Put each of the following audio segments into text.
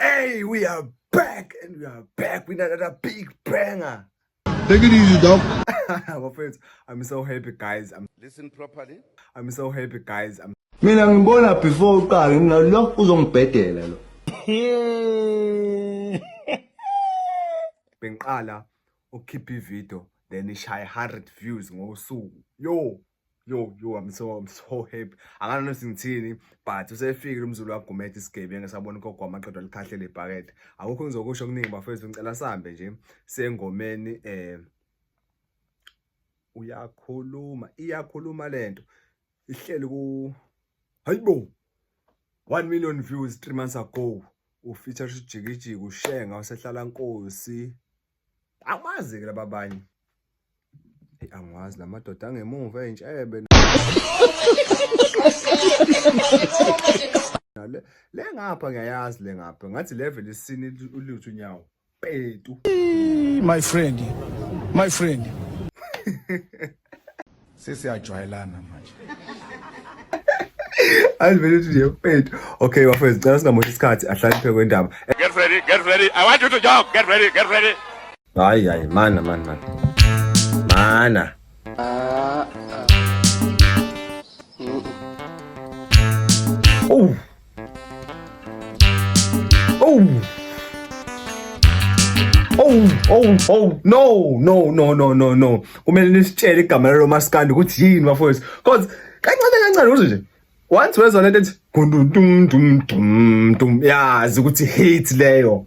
Hey, we are back and we are back with another big banger. Take it easy, dog. My friends, I'm so happy, guys. I'm, Listen properly. I'm so happy, guys. I'm, mina ngibona before uqale mina lo uzongibhedela lo bengiqala ukukhipha ivideo then ishaye 100 views ngosuku yo yo yo I'm so I'm so happy akana nothi ngithini but usefikile umzulu wagumethe isigebengu esabona ugogo amaqedwa alikhahle lebhakede akukho ngizokusho kuningi bafethu ngicela sambe nje sengomeni eh uyakhuluma iyakhuluma lento ihleli ku hayibo 1 million views 3 months ago ufeature ujikijiki ushenga wasehlala nkosi Amazi ke laba banye. Hey angazi lamadoda angemuva entshebe. Le le ngapha ngiyayazi le ngapha ngathi level isini uluthu nyawo. Petu. My friend. My friend. sesiyajwayelana manje ayivele ukuthi nje mfethu okay bafethu cela singamoshi isikhathi ahlakaniphe kwendaba get ready get ready i want you to jump get ready get ready hayi hayi mana mana mana mana ah, ah. Mm. oh Oh. Oh, oh, oh, no, no, no, no, no, no. Kumele nisitshele igama lalo maskandi ukuthi yini bafowethu. Cause kancane kancane uze nje. Once wezwa lento ethi gundum dum dum dum yazi ukuthi hate leyo.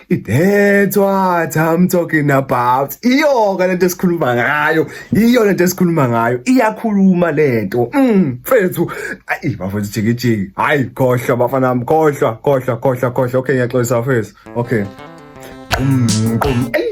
That's what I'm talking about. Iyoka lento esikhuluma ngayo, iyo lento esikhuluma ngayo, iyakhuluma lento. Mm, mfethu. Ayi bafethu jiki jiki. Hayi khohlwa bafana bami, khohlwa, khohlwa, khohlwa, khohlwa. Okay, ngiyaxolisa mfethu. Okay. Mm, qum. Ey.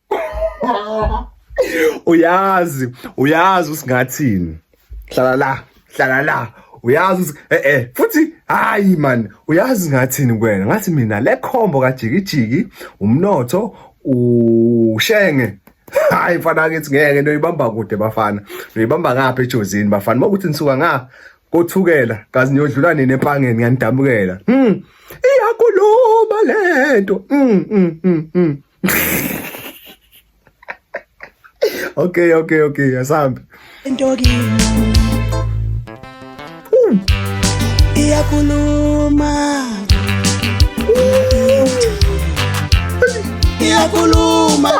uyazi uyazi usingathini hlala la hlala la uyazi eh eh futhi hayi man uyazi ngathini kwena ngathi mina le combo kajikijiki umnotho ushenge hayi mfana kithi ngeke noyibamba kude bafana noyibamba ngapha ejozini bafana makuthi nisuka nga kothukela kazi niyodlula nini empangeni ngiyanidamukela mm iyakuluma lento mm mm mm, mm. okay okay okay asambe into kimi iyakhuluma iyakhuluma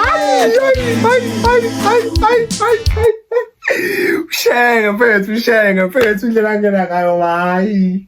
ushenge mfethu ushenge mfethu indlela angena ngayo hayi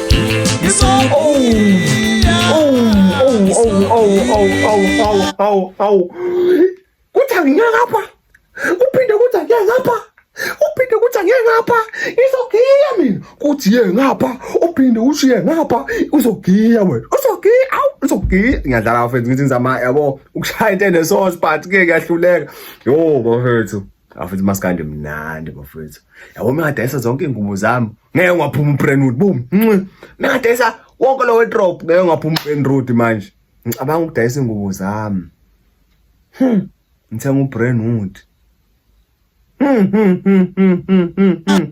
kuthi angiyeke apha kuphinde kuthi angiyeke ngapha uphinde kuthi angiyeke ngapha izogiya mina kuthi ye ngapha uphinde uthi ye ngapha uzogiya wena uzogiya awu uzogiya ngiyadlala bafethu ngithi ngizama yabo ukushaya into enesource but ke kuyahluleka yo bafethu bafethu maskandi mnandi bafethu yabo mina ngadayisa zonke iy'ngubo zami ngeke ungaphuma uBrenwood boom nxi mengadayisa wonke lo wardrobe ngeke ungaphuma uBrenwood manje ngicabanga ukudayisa ingubo zami hmm ngithenga uBrenwood hmm hmm hmm hmm hmm, hmm, hmm.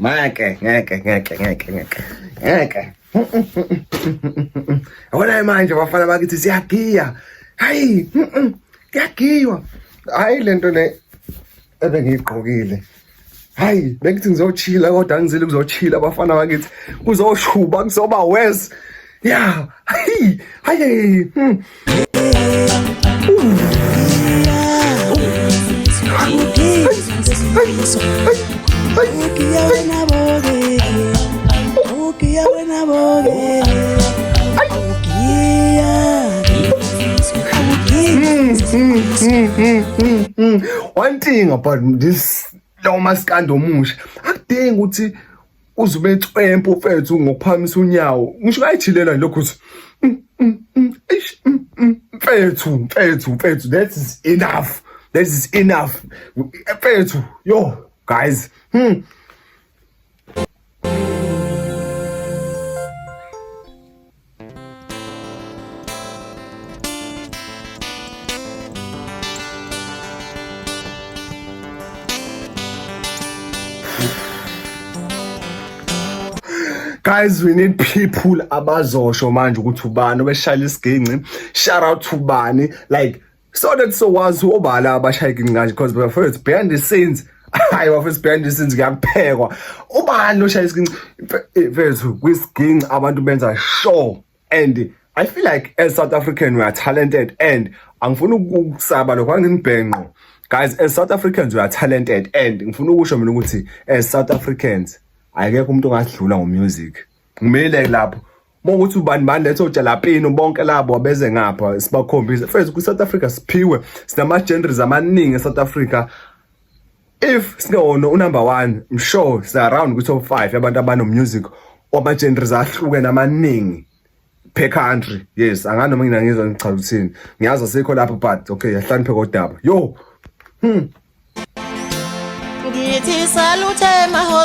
Ngeke, ngeke, ngeke, ngeke, ngeke. Ngeke. Awona manje bafana bakithi siyagiya. Hayi, kuyagiywa. Hayi lento le ebengiyigqokile. Hayi, bengithi ngizochila kodwa ngizile kuzochila bafana bakithi. Kuzoshuba kuzoba worse. Ya. Ay. Ay. ay. Hmm. One thing about this Thomas Kandomusha, akudingi ukuthi uze ube cwempu mfethu ngokuphakamisa unyawo ngisho kayijhilela lokho ukuthi mm, mm, mm, mfethu mfethu mfethu that is enough that is enough mfethu yo guys hmm guys we need people abazosho manje ukuthi ubani obeshayela isiginci shout out to bani like so that so was who obala abashayeki nganje because my first behind the scenes hayi bafethu behind the scenes kuyaphekwa ubani oshaya isiginci mfethu kwisiginci abantu benza sure and i feel like as south african we are talented and angifuni ukusaba lokho angimibhenqo guys as south africans we are talented and ngifuna ukusho mina ukuthi as south africans ayekho umuntu ongadlula ngomusic ngimile lapho Mawukuthi ubani bani letho jalapino bonke labo abeze ngapha sibakhombise. First ku South Africa siphiwe sinama genres amaningi e South Africa. If singewona u number 1 I'm sure si around ku top 5 yabantu abano music wama genres ahlukene amaningi per country. Yes, angano mina ngizwa ngichaza uthini. Ngiyazi asikho lapho but okay yahlanipheka odaba. Yo. Hmm. Ngithi salute maho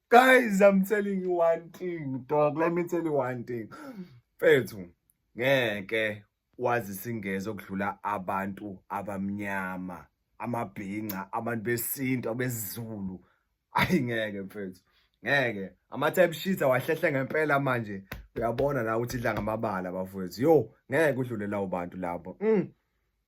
Guys, I'm telling you one thing, dog. Let me tell you one thing. Mfethu, ngeke wazi singeze okudlula abantu abamnyama, amabhinca, abantu besintu, abesizulu. Ayi ngeke mfethu. Ngeke. Ama type sheets awahlehle ngempela manje. Uyabona la ukuthi idla ngamabala bafowethu. Yo, ngeke udlule lawo bantu lapho. Mm.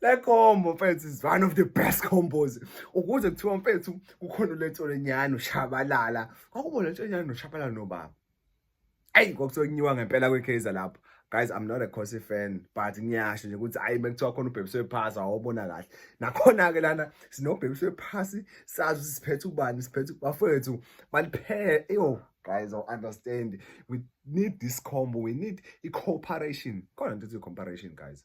le combo mfethu is one of the best combos ukuze kuthiwa mfethu kukhona uletsolenyana ushabalala kwakubo letsolenyana noshabalala nobaba ayi kwakuthiwa kunyiwa ngempela kwekaizer lapho guys i'm not a cossy fan but ngiyasho nje ukuthi ayi bekuthiwa khona ubhebiswe phasi awobona kahle nakhona-ke lana sinobhebiswe phasi sazi ukuthi siphethe ubani siphethe bafowethu baliphele eyo guys or understand we need this combo we need i-cooperation khona nto ithi i-cooperation guys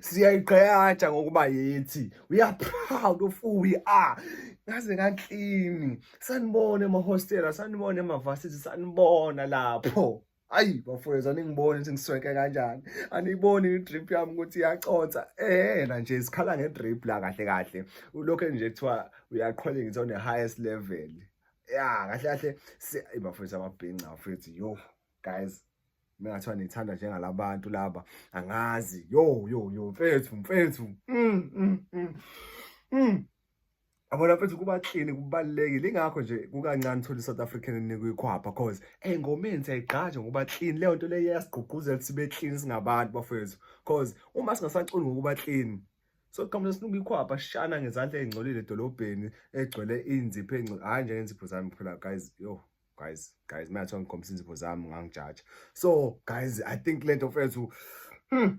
siyayigqayatsha ngokuba yethi we are proud of who we are ngaze ngaklini sanibona emahostela sanibona emavasithi sanibona lapho ayi bafowethu aningiboni ukuthi ngisweke kanjani aniyiboni i-drip yami ukuthi iyaconsa ehena nje sikhala nge-drip la kahle kahle ulokhu nje kuthiwa uyaqhwele ngithi one-highest level ya kahle kahle bafowethu ababhinca bafowethu yo guys mengathiwa nithanda njengalabantu laba angazi yo yo yo mfethu mfethu mm, mm, mm. Mm. Yabona mfethu kuba clean kubalulekile ingakho nje kukancane thola iSouth African enikuyikhwapha cause engomeni siyayigqaja ngokuba clean leyo nto leyo yasigqugquzela sibe clean singabantu bafethu cause uma singasaculi ngokuba clean so qhamuka sinukuyikhwapha shana ngezandla ezingcolile edolobheni egcwele inzipho engcole hayi nje ngenzipho zami phela guys yo guys guys mina ngikhombisa inzipho zami ngangijaja so guys i think lento mfethu hmm.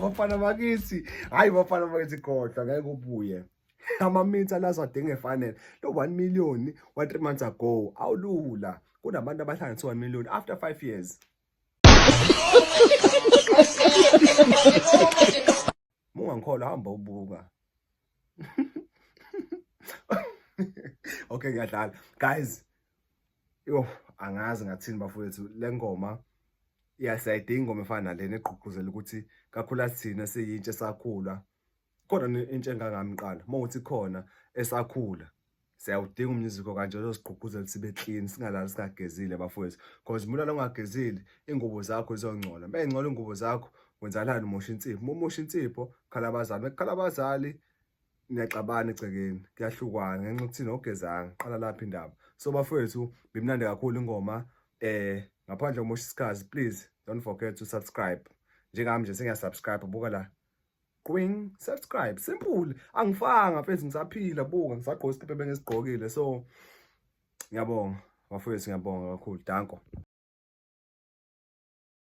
bafana bakithi hayi bafana bakithi kodwa ngeke ubuye amaminti alazo adinga efanele lo 1 million wa 3 months ago awulula kunabantu abahlanganisa 1 million after 5 years mungangikholwa hamba ubuka okay ngiyadlala guys yo angazi ngathini bafowethu le ngoma iyasayidinga ingoma efana nalena egqugquzela ukuthi kakhula sithina siyintsha esakhula khona intsha engangami qala uma uthi khona esakhula siyawudinga umnyuziko kanje ozosigqugquzela sibe clean singalali singagezile bafowethu because mulala ungagezile ingubo zakho zizongcola uma ingcola ingubo zakho wenzakalani umosha insipho uma umosha insipho khala abazali bekukhala abazali niyaxabana egcekeni kuyahlukwana ngenxa yokuthi nogezanga qala lapha indaba so bafowethu bimnandi kakhulu ingoma eh ngaphandle komosha isikhazi please don't forget to subscribe njengami nje sengiyasubscribe buka la Gwing, subscribe. Simple. Angifanga mfethu ngisaphila buka ngisagqoka isikipe bengisigqokile so ngiyabonga bafowethu ngiyabonga kakhulu. Danko.